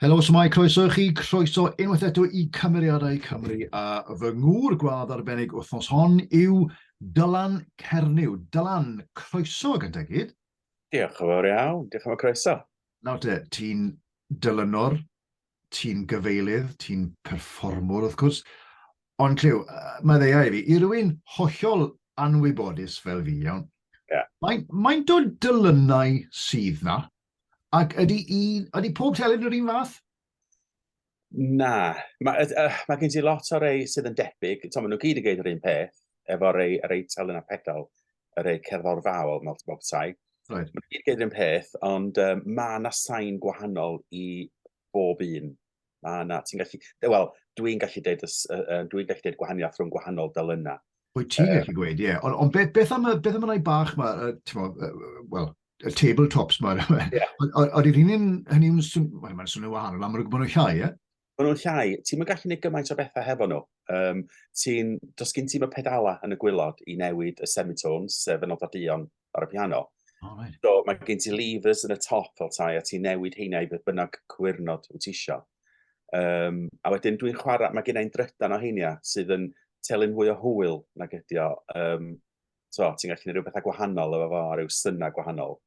Helo, swmai, croeso i chi, croeso unwaith eto i Cymeriadau Cymru a fy ngŵr gwadd arbennig wythnos hon yw Dylan Cernyw. Dylan, croeso gyntaf gyd. Diolch yn fawr iawn, diolch am y croeso. Nawr te, ti'n dylynwr, ti'n gyfeilydd, ti'n perfformwr wrth gwrs, ond clyw, mae ddeiau i fi, i rywun hollol anwybodus fel fi, iawn, yeah. mae'n mae o dylynau sydd na, Ac ydy, un, ydy pob telyn yr un fath? Na. Mae uh, ma gen ti lot o rei sydd yn debyg. Tom, maen nhw gyd yn gwneud yr un peth efo rei, rei telyn a pedal, y rei cerddor fawr, mawr bob tai. Right. Maen nhw gyd yn gwneud yr un peth, ond um, mae yna sain gwahanol i bob un Na, na, ti'n gallu... Wel, dwi'n gallu deud, uh, dwi'n gallu deud gwahaniaeth rhwng gwahanol delynau. Wyt ti'n gallu um, gweud, ie. Yeah. Ond on beth, beth am y, beth am y bach yma, uh, ti'n mo, uh, well, y tabletops yma. Yeah. O'r un un, hynny yw'n swn, mae'n ma swnio'n wahanol, am yr gwybod nhw'n llai, ie? Mae nhw'n llai, ti'n mynd gallu gwneud gymaint o bethau hefo nhw. Um, ti'n, dos gyn ti'n y pedala yn y gwylod i newid y semitones, sef y nododion ar y piano. Oh, right. So mae gen ti levers yn y top fel tai, a ti newid heina i beth bynnag cwyrnod wyt ti isio. Um, a wedyn dwi'n chwarae, mae gen i'n drydan o heina sydd yn telyn fwy o hwyl nag ydi o. Um, so, ti'n gallu gwneud rhywbeth gwahanol efo fo, a rhyw syna gwahanol.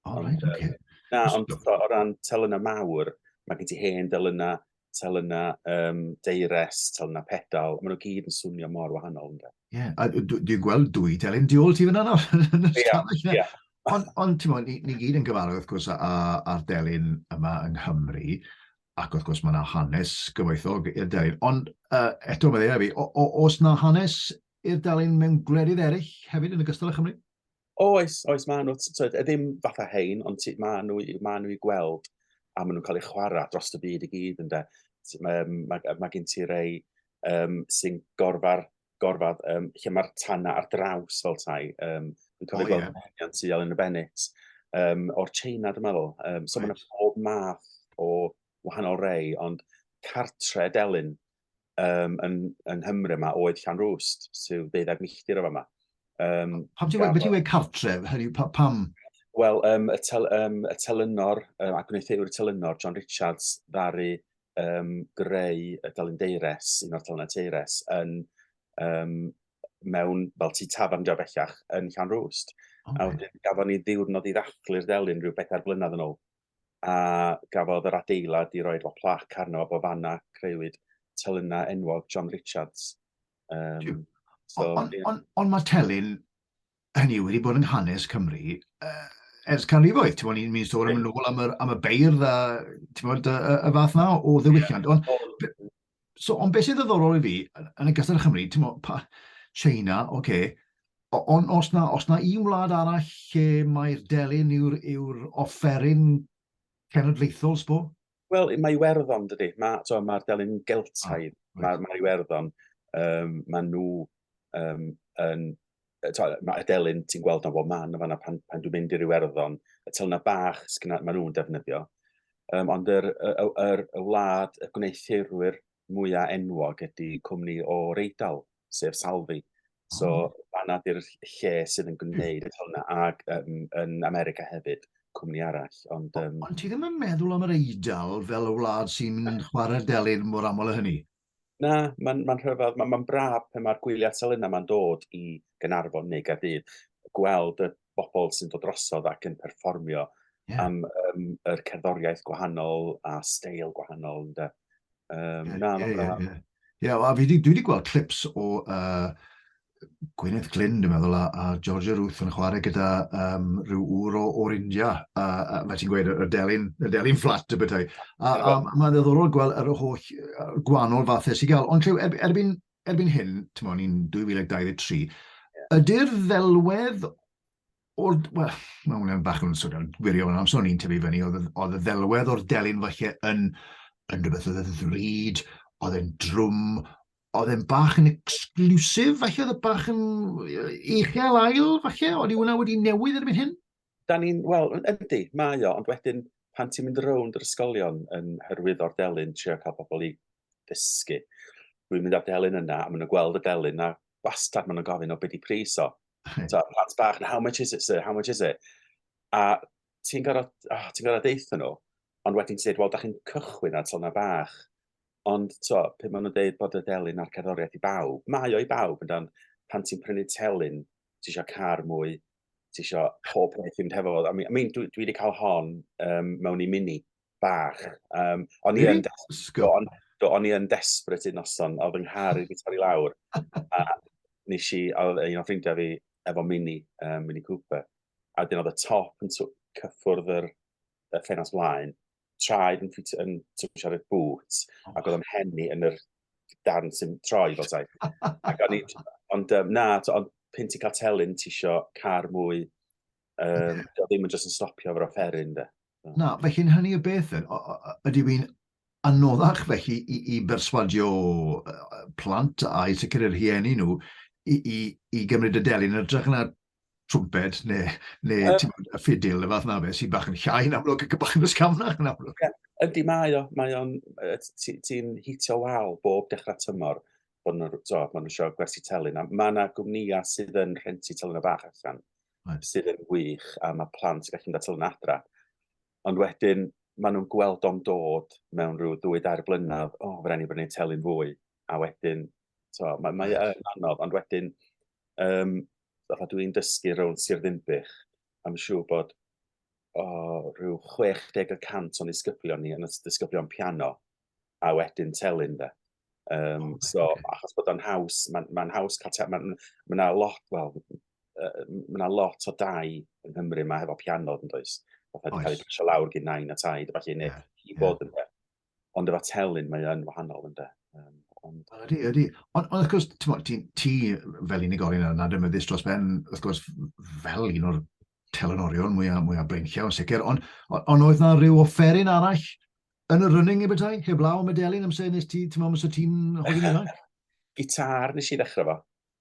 Oh, right, okay. Na, ond o ran telynau mawr, mae gen ti hen delynau, tel yna um, deires, tel yna pedal, maen nhw gyd yn swnio mor wahanol. Ie, yeah, dwi'n gweld dwy telyn tu ôl ti fyna nawr. Ie, ie. Ond, on, ti'n ni, ni gyd yn gyfarwydd, wrth gwrs, a'r delyn yma yng Nghymru, ac wrth gwrs mae yna hanes gyfoethog i'r delyn. Ond uh, eto mae ddeud fi, os na hanes i'r delyn mewn gwledydd eraill hefyd yn y gystal â Chymru? Oes, oes, maen nhw, tyd, e ddim fatha hein, ond tyd, maen nhw, maen nhw i gweld a maen nhw'n cael eu chwarae dros y byd i gyd ynde. Mae, mae, mae gen ti rei um, sy'n gorfa'r gorfad um, lle mae'r tanna ar draws fel tai. Um, yn cael ei gweld yn henian tu yn y Bennett, um, o'r China, dwi'n meddwl. Um, so right. mae'n pob math o wahanol rei, ond cartre delyn, um, yn, yn Nghymru yma oedd Llanrwst, sydd deuddeg milltir o fama. Um, pam ti'n wedi wedi cartref, hynny, pa, pam? Wel, um, y, tel, um, y telynor, um, a gwneutheiwr y telynor, John Richards, ddari um, greu y Dalyn Deires, un o'r telynau Teires, yn, um, mewn, fel ti tafan dio bellach, yn Llanrwst. Okay. A wedyn, gafon ni ddiwrnod i ddathlu'r delyn rhyw bedair blynedd yn ôl. a gafodd yr adeilad i roi fel plac arno fo fanna creuwyd telynna enwog John Richards. Um, so, Ond on, on, on mae telyn hynny wedi bod yng nghanes Cymru uh, ers canrifoedd. Ti'n bod, ni'n sôn am yn ôl am, yr, am y beirdd a ti'n bod, y, y, y fath na o ddewichiant. Ond so, ond beth sy'n ddoddorol i fi, yn y gysylltu Chymru, ti'n mo, pa, China, oce, okay, ond os na, os na un wlad arall lle mae'r delyn yw'r yw offeryn cenedlaethol, sbo? Wel, mae Iwerddon, dydy. Mae'r so, ma delyn Geltaidd, ah, right. mae ma Iwerddon, um, mae nhw um, yn mae y delyn ti'n gweld o'n bob man, yna pan, pan dwi'n mynd i ryw erddon, y telna bach sy'n maen nhw'n defnyddio. Um, ond yr, y, y, y wlad y gwneuthurwyr mwyaf enwog ydy cwmni o Reidal, sef Salvi. So, hmm. fanna di'r lle sydd yn gwneud y telna, ac um, yn America hefyd, cwmni arall. Ond, um... ond ti ddim yn meddwl am yr Eidal fel y wlad sy'n chwarae'r delyn mor aml o hynny? Na, mae'n ma rhyfedd, mae'n ma braf pan mae'r gwyliau atal yna mae'n dod i Gynarfon neu Gaerdydd, gweld y bobl sy'n dod drosodd ac yn perfformio yeah. am um, yr cerddoriaeth gwahanol a steil gwahanol. Ynda. Um, yeah, na, yeah, yeah, yeah. yeah, a fi, dwi wedi gweld clips o uh, Gwyneth Glyn, dwi'n meddwl, a, a Georgia Ruth yn chwarae gyda um, rhyw ŵr o, o'r India, a, a mae ti'n gweud y delyn, y delyn fflat y bethau. A, a mae'n ddiddorol gweld yr holl gwahanol fathau sy'n gael. Ond llew, er, erbyn, erbyn hyn, ti'n meddwl, ni'n 2023, ydy'r ddelwedd o'r... Wel, mae hwnna'n bach yn swnio'n gwirio yn amser o'n i'n tyfu fyny, oedd, oedd y ddelwedd o'r delyn falle yn, yn rhywbeth oedd y ddrud, oedd e'n drwm, oedd e'n bach yn exclusive, falle oedd y bach yn eichel ail, falle, oedd i hwnna wedi newid erbyn hyn? Da ni'n, wel, ydy, mae o, ond wedyn pan ti'n mynd rownd yr ysgolion yn hyrwyddo'r delyn, trio cael pobl i ddysgu, dwi'n mynd â'r delyn yna, a maen nhw'n gweld y delyn, a bastad maen nhw'n gofyn o beth i pris o. So, plant bach, how much is it, sir, how much is it? A ti'n gorau, oh, ti'n gorau deitha nhw, ond wedyn ti'n dweud, wel, da chi'n cychwyn ar tona bach, Ond to, pe maen nhw'n dweud bod y delyn a'r cerddoriaeth i bawb, mae o i bawb, yndan, pan ti'n prynu telyn, ti eisiau car mwy, ti eisiau pob peth i'n tefo. I mean, I mean, dwi, dwi wedi cael hon um, mewn i mini bach. Um, o'n i yn desbryd, do, o'n i yn desbryd un noson, oedd yng nghar i fi torri lawr. A nes i, oedd un o ffrindiau fi efo mini, um, mini Cooper. A dyn oedd y top yn cyffwrdd yr, y ffenast mlaen, traed yn ffit yn twysio ar y bŵt, oh. ac oedd o'n henni yn yr darn sy'n troi fel tai. ac o'n i, ond um, na, ond pint i cael telyn, ti isio car mwy, um, yeah. ddim yn jyst yn stopio o'r offeryn, de. Na, felly'n hynny y beth, ydy fi'n anoddach felly i, i berswadio plant a i sicr yr hieni nhw i, i, i gymryd y delyn yn ytrach na trwmped neu, neu uh, bod, y ffidil, y fath na fe, sy'n bach yn llai yn amlwg ac yn bach yn ysgafnach yn amlwg. Yeah, ydy mae o, mae o'n, ti'n hitio wal bob dechrau tymor, bod nhw'n so, nhw eisiau gwersi telyn, a mae yna gwmnïa sydd yn rhenti telyn o bach allan, right. sydd yn wych, a mae plant sy'n gallu mynd at telyn adra. Ond wedyn, maen nhw'n gweld o'n dod mewn rhyw ddwy dair blynedd, o, oh, fe rhaid ni brynu telyn fwy, a wedyn So, mae, mae e yn anodd, ond wedyn, um, fatha dwi'n dysgu rownd Sir Ddimbych, am siŵr bod o rhyw 60 y cant o'n disgyblion ni yn y disgyblion piano, a wedyn telyn de. Um, oh, so, okay. achos bod o'n haws, mae'n ma haws cael telyn, mae'n ma yna lot, wel, uh, mae yna lot o dau yng Nghymru mae hefo piano, yn does? Fatha wedi cael ei pasio lawr gyn nain a taid, a falle, neu yeah, i fod yn yeah. Ond efo telyn, mae yn wahanol, ynddo. Um, ond... Ydy, ydy. Ond, on, wrth gwrs, ti, ti fel unigolyn yn ademeddus dros ben, wrth gwrs, fel un o'r telynorion mwyaf, mwyaf breinciau, sicr, ond on, on oedd na rhyw offeryn arall yn y running i bethau, heblaw am y delyn, amser nes ti, ti'n meddwl, amser ti'n holi ifanc? Gitar nes i ddechrau fo.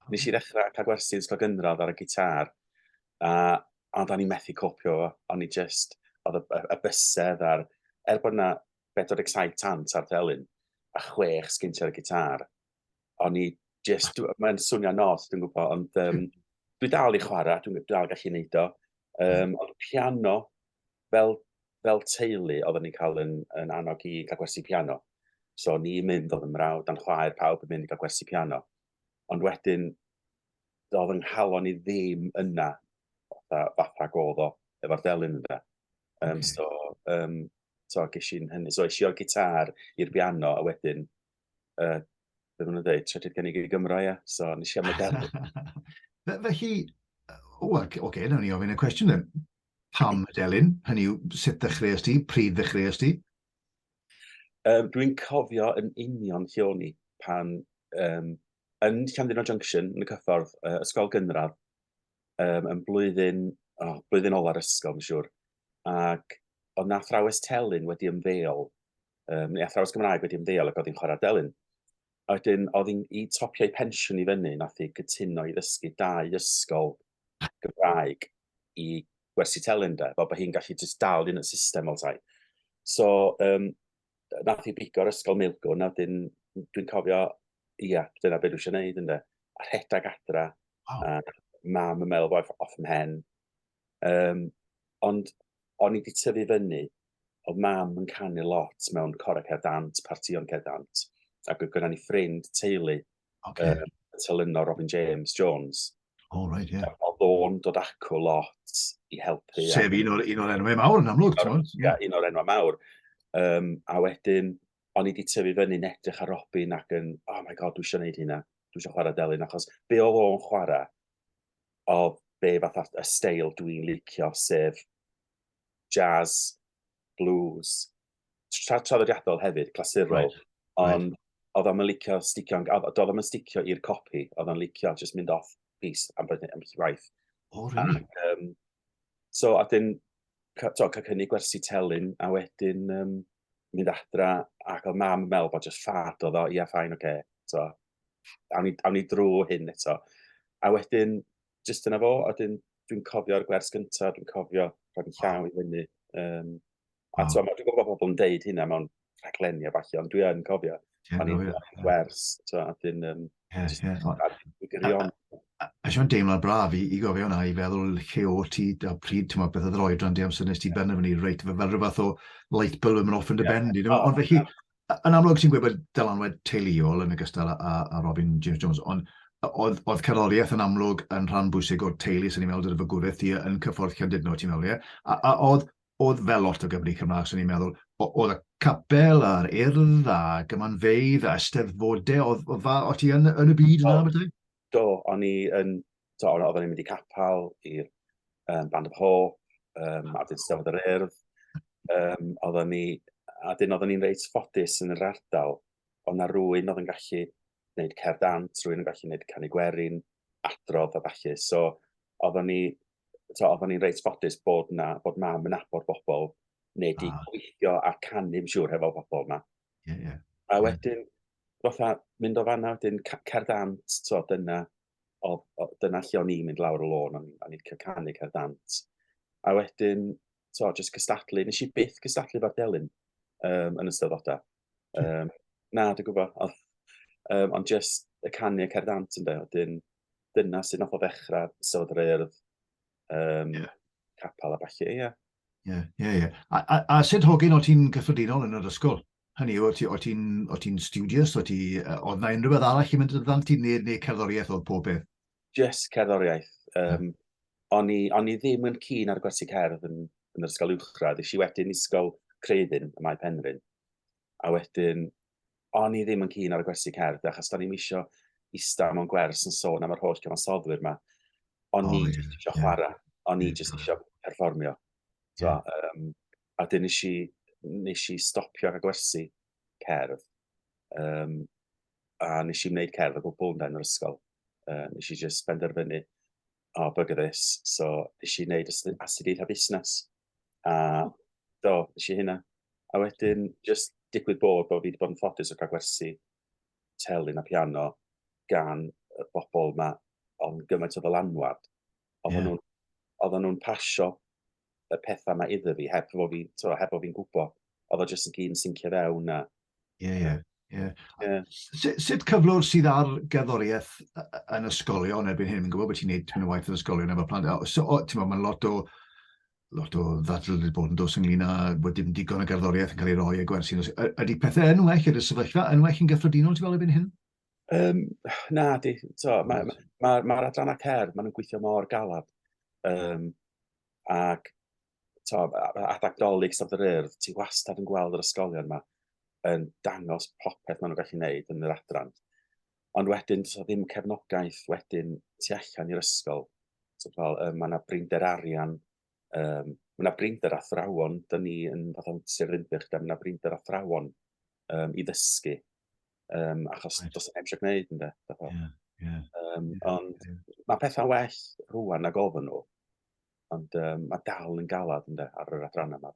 Nes i ddechrau cael gwersi yn ysgol gynradd ar y gitar, a, ond o'n i'n methu copio, o'n i just, oedd y, y, y bysedd a'r, er bod yna 47 tant ar ddelyn, a chwech sgynti ar y gitar, o'n i just, mae'n swnio nos, dwi'n gwybod, ond um, dwi dal i chwarae, dwi'n dwi dal gallu neud o. Um, ond piano, fel, fel teulu, oedden ni'n cael yn, yn annog i gael gwersi piano. So ni mynd oedd yn mrawd, dan chwaer pawb yn mynd i gael gwersi piano. ond wedyn doedd yng nghalon i ddim yna fatha, fatha godd o efo'r delyn yna. Um, okay. So, um, so ges i'n hynny. So eisiau o'r gitar i'r piano a wedyn, uh, beth nhw'n dweud, trydydd cynnig i Gymro, ia. So nes i am y delyn. Felly, o, oce, okay, nawn ni ofyn y cwestiwn yn. Pam y delyn? Hynny yw, sut ddechreuais ti? Pryd ddechreuais ti? Um, Dwi'n cofio yn union lle o'n i pan um, yn Llandudno Junction, yn y cyffordd, uh, ysgol gynradd, um, yn blwyddyn, oh, blwyddyn ola'r ysgol, mae'n siŵr. Ac oedd na athrawes telyn wedi ymddeol, um, neu athrawes Gymraeg wedi ymddeol ac oedd hi'n chwarae delyn. A wedyn, oedd hi'n i topio'i pensiwn i fyny, nath hi gytuno i ddysgu dau ysgol Gymraeg i gwersi telyn de, fel bod hi'n gallu just dal yn y system fel tai. So, um, nath i bigo'r ysgol Milgwn, a wedyn dwi'n cofio, ia, dyna beth dwi eisiau gwneud ynddo. A rhedeg adra, oh. a mam yn meddwl bod off yn hen. Um, ond o'n i wedi tyfu fyny, oedd mam yn canu lot mewn corau cerdant, partion cerdant, ac oedd gyda ni ffrind teulu Okay. Uh, yn tyluno Robin James Jones. Oh, right, yeah. Oedd o'n dod acw lot i helpu. Sef un o'r, un o'r enwau mawr yn amlwg, ti'n mwyn? Ie, un o'r enwau mawr. Um, a wedyn, o'n i wedi tyfu fyny edrych ar Robin ac yn, oh my god, dwi eisiau gwneud hynna. Dwi eisiau chwarae delyn, achos be oedd o'n chwarae, o be fath y steil dwi'n licio, sef jazz, blues, traddodiadol hefyd, clasurol, right. ond right. oedd o'n licio sticio, oedd o'n sticio i'r copi, oedd o'n licio just mynd off piece am bod yn waith. O, really? Ac, um, so, a dyn, cael cynnig gwersi telyn, a wedyn um, mynd adra, ac oedd mam yn meddwl bod just ffad oedd o, ia, ffain, oce, okay. so, awn ni, awn ni drwy hyn eto. A wedyn, just yna fo, a dyn, dwi'n cofio'r gwers gyntaf, dwi'n cofio rhaid yn llaw i fyny, um, A ti'n gwybod, dwi'n gwybod pobl yn deud hynna mewn rhaglenni a falle, ond dwi yn cofio, pan i'n wers, ti'n gwybod, dwi'n... Um, yeah, yeah. Dwi'n gyrion. A siw'n deimlo braf i, i gofio hwnna, i feddwl lle o ti, a pryd, ti'n meddwl, beth oedd yr oedran di amser nes ti ben fyny, reit, fel rhywbeth o light bulb yn mynd off yn dy ben di. Ond felly, yn amlwg ti'n gwybod dylanwad teuluol yn y gystal a, a, a Robin James Jones, ond oedd, oedd cerddoriaeth yn amlwg yn rhan bwysig o'r teulu sy'n ei meddwl dyna fy gwrdd ti yn cyffordd Llandudno, ti'n meddwl, ie? A, a oedd, oedd fel lot o Gymru Cymraeg, swn i'n meddwl, oedd y capel a'r urdd a gymanfeidd a ysteddfodau, oedd, oedd fa, o ti yn, yn y byd yna, bydde? Do, o'n i yn, do, o'n i'n mynd i capel i'r um, Band of Hope, um, a dyn stafod yr urdd, um, oedden ni, a dyn oedden ni'n reit ffodus yn yr ardal, ond na rwy'n oedd yn gallu wneud cerdd dant, rwy'n yn gallu wneud canu gwerin, adrodd a falle. So, oeddwn ni, so, oeddwn ni'n reit ffodus bod, na, bod mam yn abod bobl neu di ah. gweithio a canu, yn siŵr, hefo bobl yma. Yeah, yeah. A wedyn, fatha, mynd o fanna, wedyn cerdd dant, so, dyna, o, o, dyna lle o'n i'n mynd lawr y lôn, o'n i'n cael canu cerdd dant. A wedyn, to, just cystadlu. Nes i byth cystadlu fa'r delyn um, yn ystod oda. Um, na, dwi'n gwybod. Ond um, on just y canu y cerdant yn dweud, dyn, dyna sy'n nath o ddechrau sylwyd yr eirdd, um, yeah. capel a falle, ie. Yeah. Ie, yeah, ie, yeah, ie. Yeah. A, a, a sut hogyn o ti'n gyffredinol yn yr ysgol? Hynny yw, o ti'n ti studious, o ti, oedd na unrhyw beth arall i mynd yn ddant ti, neu, neu cerddoriaeth oedd pob beth? just cerddoriaeth. Um, o'n, i, on i ddim yn cyn ar gwersi cerdd yn, yn yr ysgol uwchradd. Ys i wedyn ysgol Creiddyn y Mae Penrhyn. A wedyn, o'n i ddim yn cyn ar y gwersi cerdd, achos da ni'n misio ista mewn gwers yn sôn am yr holl cyfansoddwyr yma. O'n oh, i yeah, eisiau yeah. chwarae, o'n i jyst eisiau perfformio. So, yeah. um, a dyn nes i, nes i stopio ar y gwersi cerdd. Um, a nes i wneud cerdd o gwbl ynda yn yr ysgol. Uh, nes i just benderfynu, o, oh, bug at this. So, nes i wneud astudiaeth a busnes. A do, nes i hynna. A wedyn, just digwydd bod bod fi wedi bod yn ffodus o cael gwersi telyn a piano gan y bobl yma ond gymaint o ddylanwad. Oedden yeah. nhw'n nhw pasio y pethau yma iddo fi, heb fod fi'n fi, heb fod fi'n gwybod. Oedd o jyst yn gyd yn syncio fewn a... Ie, ie. Yeah. Yeah. Sut cyflwr sydd ar gerddoriaeth yn ysgolion erbyn hyn? Mi'n gwybod bod ti'n neud yn y waith yn ysgolion efo plant. So, o, ti'n meddwl, mae'n lot o lot o ddadl wedi bod yn dos ynglyn â bod dim digon o gerddoriaeth yn cael ei roi a gwersi. Ydy pethau yn well, ydy'r sefyllfa yn well yn gyffredinol, ti'n fel ebyn hyn? Um, na, di, to, mae'r ma, ma, ma adrannau cerdd, maen nhw'n gweithio mor galad. Um, ac to, adag dolyg Stad yr Urdd, ti wastad yn gweld yr ysgolion yma yn dangos popeth maen nhw'n gallu gwneud yn yr adran. Ond wedyn, so ddim cefnogaeth wedyn tu allan i'r ysgol. So, fel, uh, mae yna brinder arian, um, mae yna brinder athrawon, dyn ni yn fath o'n Sir Ddinbych, mae yna brinder athrawon um, i ddysgu. Um, achos right. does neb eisiau gwneud, ynddo. Yeah, yeah. Um, yeah, ond yeah. mae pethau well rwan na gofyn nhw. Ond um, mae dal yn galad ynddo ar yr adrannau yma.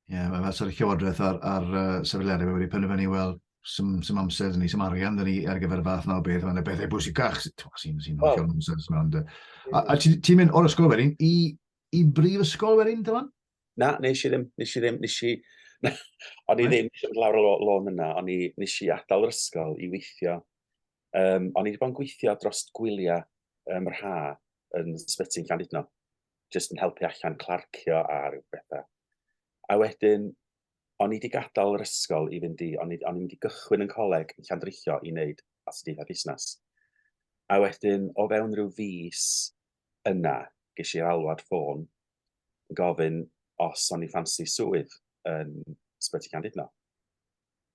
Ie, yeah, mae sort of llywodraeth ar, ar uh, sefylleriau wedi penderfynu, wel, sy'n sym amser dyn ni, sy'n arian dyn ni ar gyfer y fath na o beth, mae'n y bethau bwysicach sy'n sy'n oh. amser. A, a ti'n mynd o'r ysgol wedyn i, i brif ysgol wedyn, dylan? Na, nes i ddim, nes i ddim, nes i... o'n i ddim eisiau mynd lawr y lôn yna, o'n i nes i adael yr ysgol i weithio. Um, o'n i wedi bod yn gweithio dros gwyliau um, yr ha yn sbyty yn Llandudno, jyst yn helpu allan clarcio a rhyw bethau. A wedyn, o'n i wedi gadael yr ysgol i fynd i, o'n i, o'n i wedi gychwyn yn coleg yn Llandrillo i wneud astudiaethau busnes. A wedyn, o fewn rhyw fus yna, ges i'r alwad ffôn gofyn os o'n i ffansi swydd yn Sbyty Candidno.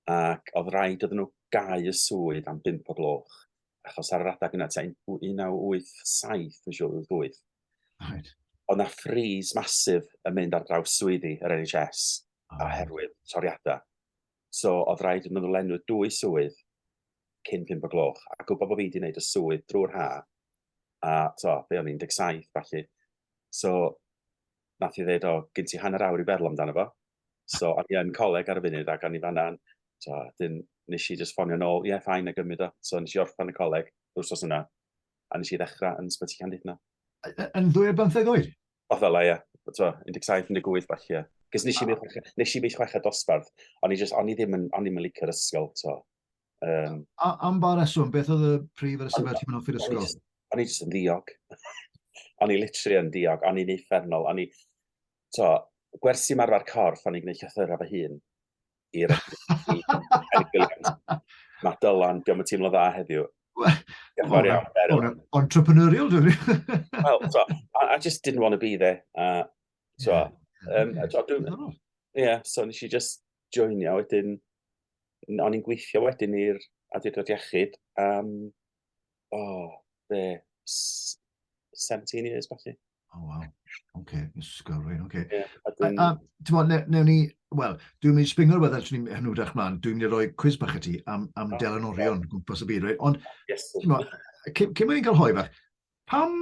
Ac oedd rhaid oedd nhw gau y swydd am 5 o gloch, achos ar yr adeg yna, ti'n 1987, yn siŵr, 88. Right. Oedd na ffris masif yn mynd ar draws swyddi yr NHS oh. oherwydd toriadau. So, oedd rhaid iddyn nhw lenwi dwy swydd cyn 5 o gloch, a gwybod bod fi wedi gwneud y swydd drwy'r ha, a to, fe o'n 17, falle. So, nath i ddweud, o, gyn ti hanner awr i feddwl amdano fo. So, o'n i yn coleg ar y funud, ac o'n i fanna, to, dyn, nes i just ffonio nôl, ie, yeah, ffain, a gymryd o. So, nes i orffan y coleg, wrth os yna, a nes i ddechrau yn sbyty Candidna. Yn ddwy ar bymtheg oed? O, fel ie, to, 17, 18, falle, ie. Cys nes i mynd chweched dosbarth, o'n i, just, o'n i ddim yn, o'n i ddim yn licio'r ysgol, to. Um, a, am ba reswm, beth oedd y prif reswm ar ti'n mynd off i'r ysgol? O'n i jyst yn ddiog. o'n i literally yn ddiog, o'n i'n effernol, o'n i... To, gwersi marfer corff, o'n i'n gwneud llythyrau fy hun i'r Mae Dylan, diolch yn teimlo dda heddiw. Gymor iawn, Beryl. Entrepreneurial, dwi'n rhaid. Wel, so, I, I just didn't want to be there. Uh, so, yeah. um, yeah. yeah, so nes i just joinio wedyn, o'n i'n gweithio wedyn i'r Adeirdod Iechyd am, o, oh, be, 17 years, falle. O, oh, waw. OK, ysgol, rhaid, OK. Yeah, a dwi'n... A, a ne, newn ni, wel, dwi'n mynd i springo rhywbeth allan ni'n hynw drach mlaen, dwi'n mynd i roi cwiz bach i ti am, am oh, Delan Orion, yeah. gwmpas y byd, rhaid. Ond, yes. cyn mwyn i'n cael hoi fach, pam,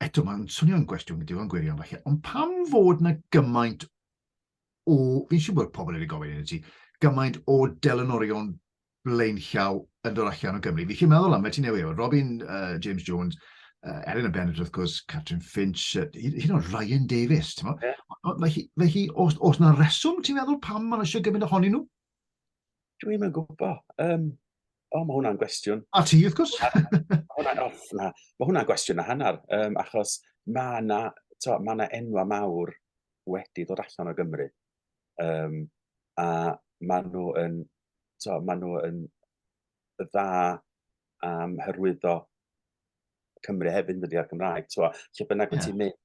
eto mae'n swnio'n gwestiwn gyda o'n gwirion falle, ond pam fod na gymaint o, fi'n siŵr bod pobl wedi gofyn hyn i ti, gymaint o delynorion blaenllaw yn dod allan o Gymru. Fi chi'n meddwl am, fe ti'n newid, Robin uh, James Jones, uh, Erin O'Bennett, wrth gwrs, Catrin Finch, uh, hyn o'n Ryan Davis, ti'n meddwl? Yeah. Fe hi, fe hi os, os na reswm, ti'n meddwl pam maen eisiau gymaint ohonyn nhw? Dwi'n mynd gwybod. Um, o, mae hwnna'n gwestiwn. A ti, wrth gwrs. hwnna'n off na. Mae hwnna'n gwestiwn na hanner, um, achos mae yna ma enwa mawr wedi dod allan o Gymru. Um, a maen nhw yn, so, maen nhw yn dda am hyrwyddo Cymru hefyd yn dydi ar Gymraeg. So, lle bynnag yeah. ti'n mynd,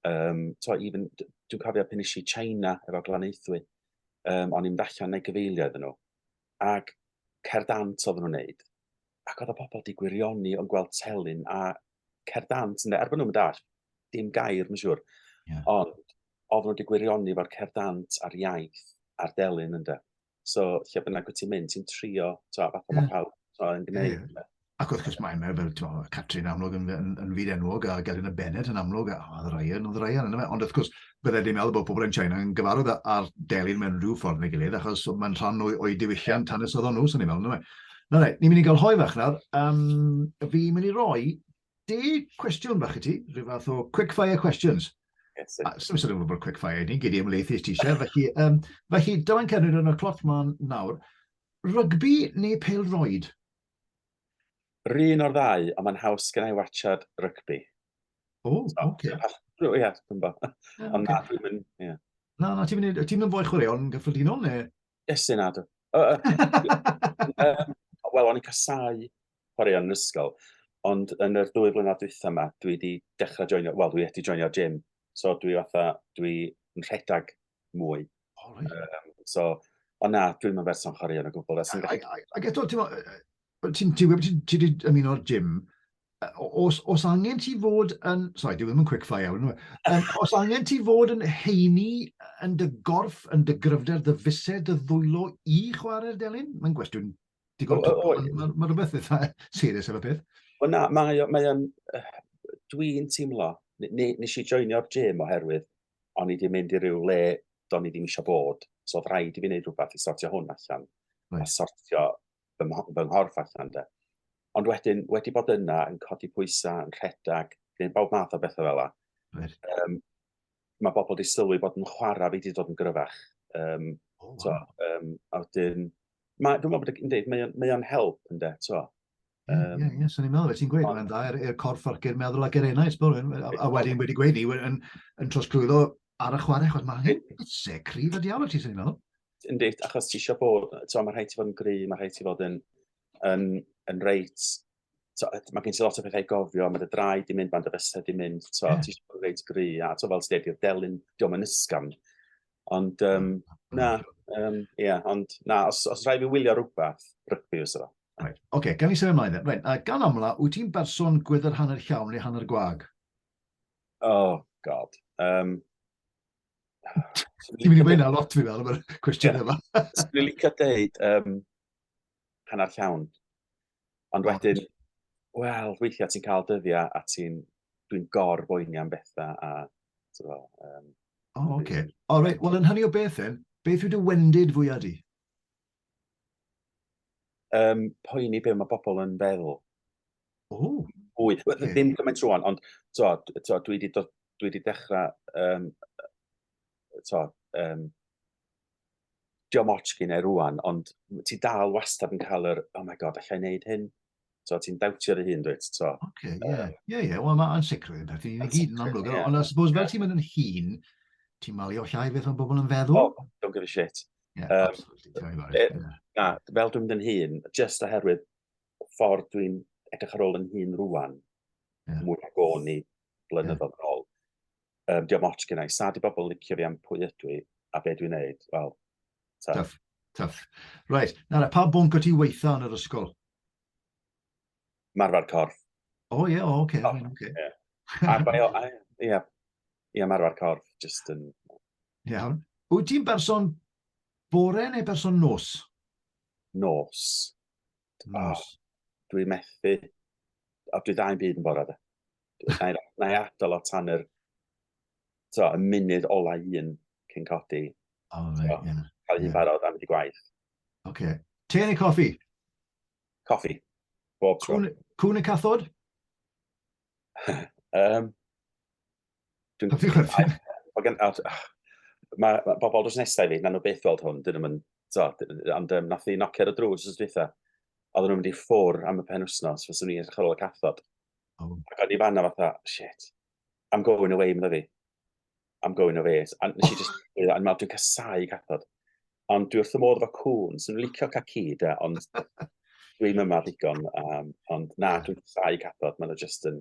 um, so, even, dwi'n cofio pan eisiau China efo Glanaethwy, um, o'n i'n allan neu gyfeilio iddyn nhw. Ac cerdant oedden nhw'n neud, ac oedd y pobl di gwirioni o'n gweld telyn a cer dant, ynde, er bod nhw'n dall, dim gair, mae'n siŵr. Yeah. Ond, ofn wedi gwirioni fo'r cer dant a'r iaith a'r delyn, ynde. So, lle bynnag wyt ti'n mynd, ti'n trio, to, a fath o yeah. pawb, to, yn gwneud. Yeah. Ac wrth gwrs mae yna fel to, Catrin amlwg yn, yn, yn fyd enwog a Gelyn y Bennett yn amlwg a oedd Ryan, oedd Ryan yna fe. Ond wrth gwrs, byddai wedi meddwl bod pobl yn China yn gyfarwydd â'r delyn mewn rhyw ffordd neu gilydd, achos mae'n rhan o'i, oi diwylliant hanes oedd o'n nhw, sy'n ei meddwl, neu. Na, na, ni'n mynd i gael hoi fach nawr. Um, fi'n mynd i roi de cwestiwn fach i ti, rhyw fath o quick fire questions. Yes, a, sy'n sylwi bod quick fire ni, gyd i ymlaethu ti eisiau. Felly, um, felly dyma'n cynnig yn y cloc ma'n nawr. Rygbi neu pel roed? Rhyn o'r ddau, ond mae'n haws gen i watchad rygbi. O, oce. O, ie, dwi'n bo. Ond na, dwi'n mynd, ie. Na, na, ti'n mynd, ti'n mynd fwy chwaraeon gyffredinol, neu? Yes, yn adw. Wel, o'n i'n casau chwaraeon yn ysgol, ond yn yr dwy flynedd dwytha yma, dwi wedi dechrau joinio, wel, dwi wedi joinio gym. So dwi fatha, dwi'n rhedeg mwy. Oh, right. um, so, ond na, dwi'n mynd berson chwarae yn y gwbl. Ac eto, ti'n gwybod, ti'n ti wedi ymuno'r gym, os, os angen ti fod yn... Sorry, dwi ddim yn quickfire iawn. Um, os angen ti fod yn heini yn dy gorff, yn dy gryfder, dy fused, dy ddwylo i chwarae'r delyn? Mae'n gwestiwn digon... Mae rhywbeth eitha serius ar y peth. Wel na, mae'n... Mae Dwi'n teimlo, nes i joinio'r gym oherwydd o'n i wedi mynd i ryw le do'n i ddim eisiau bod, so oedd rhaid i fi wneud rhywbeth i sortio hwn allan, right. a sortio fy, fy nghorff allan de. Ond wedyn, wedi bod yna, yn codi pwysau, yn rhedeg, gwneud bawb math o bethau fel yna, right. um, mae bobl wedi sylwi bod yn chwarae fi wedi dod yn gryfach. Um, oh, wow. so, um, a wedyn, mae, dwi'n meddwl bod yn dweud, mae o'n help yn de, so. Um, ie, ie, ie, swn i'n meddwl, ti'n gweud hwnna'n dda, i'r er, er corff ac i'r meddwl ac i'r enau, a wedyn wedi gweud ni, yn, yn trosglwyddo ar y chwarae, chwarae, mae hyn se cryf y diawl ti, swn i'n meddwl. Ynddi, achos ti eisiau bod, ti'n mae rhai ti fod yn gry, mae rhai ti fod yn, yn, yn reit, mae gen ti lot o bethau gofio, mae dy draed di mynd, mae dy fysau di mynd, ti'n yeah. ti eisiau bod yn reit gry, a ti'n fel ti'n dweud, delyn, diolch yn ysgam. Ond, um, na, um, yeah, ond na, os, os rhaid fi wylio rhywbeth, rygbi fysa fo. Reit, ocê, gawn ni symud ymlaen then. Reit, a gan amla, wyt ti'n berson gwydr hanner llawn neu hanner gwag? Oh, god. Um, Ti'n mynd i wein a lot fi fel yma'r cwestiwn yma. Swn i'n licio deud um, hanner llawn. Ond wedyn, wel, weithiau ti'n cael dyddiau a ti'n, dwi'n gor boeni am bethau a, ti'n fel, um, O, oh, oce. Okay. O, reit, wel, yn hynny o beth then, beth yw dy wendid fwyaf di? um, poeni be mae bobl yn feddwl. Ooh. Wy, okay. ddim gymaint rwan, ond to, to, dwi wedi dod, dwi wedi dechrau, um, to, um, diom ots gyn e rwan, ond ti dal wastad yn cael yr, oh my god, allai wneud hyn? So, ti'n dawtio dy hun, dweud, so. Oce, ie, ie, ie, wel mae'n sicr yn perthyn i gyd yn amlwg, ond I suppose fel ti'n mynd yn hun, ti'n malio llai beth o'n bobl yn feddwl? Oh, don't give a shit. Yeah, um, absolutely, tell me about it. E, yeah. Na, fel dwi'n mynd yn hun, just oherwydd ffordd dwi'n edrych ar ôl yn hun rwan, yeah. mwy ag o'n i blynyddoedd yeah. ôl, um, diolch ots gynnau. Sa di bobl licio fi am pwy ydw i a be dwi'n neud? Wel, ta. Tough, tough. Right, nawr, pa bwnc o ti weitha yn yr ysgol? Marfer corff. O, oh, ie, yeah, o, oh, oce. Okay, oh, okay. Yeah. Arfer, ie, yeah, yeah, marfer corff, just yn... Um... Iawn. Wyt ti'n berson bore neu berson nos? Nos. Oh, dwi methu. O, dwi dda'n byd yn bora da. Na i adol o tan yr so, y munud ola un cyn codi. O, fe, ie. Yeah. Cael hi'n barod am wedi gwaith. Oce. Okay. Te neu coffi? Coffi. Bob tro. Cwn, cwn y cathod? um, Dwi'n gwybod chwerthin. Mae gen... Mae ma bobl drws nesau fi, na nhw beth weld hwn, dyn nhw'n mynd... So, ond um, nath i nocio ar y drws os dweitha. Oedden nhw'n mynd i ffwr am y pen wythnos, fes o'n i'n edrych ar ôl y cathod. Oh. Ac o'n i fanna fatha, shit, I'm going away, mynd fi. I'm going away. A nes i just, oh. yn meddwl, dwi'n casau cathod. Ond dwi wrth y modd efo cwn, sy'n licio caci, da, ond dwi'n yma ddigon. Um, ond na, dwi'n casau cathod, maen nhw just yn...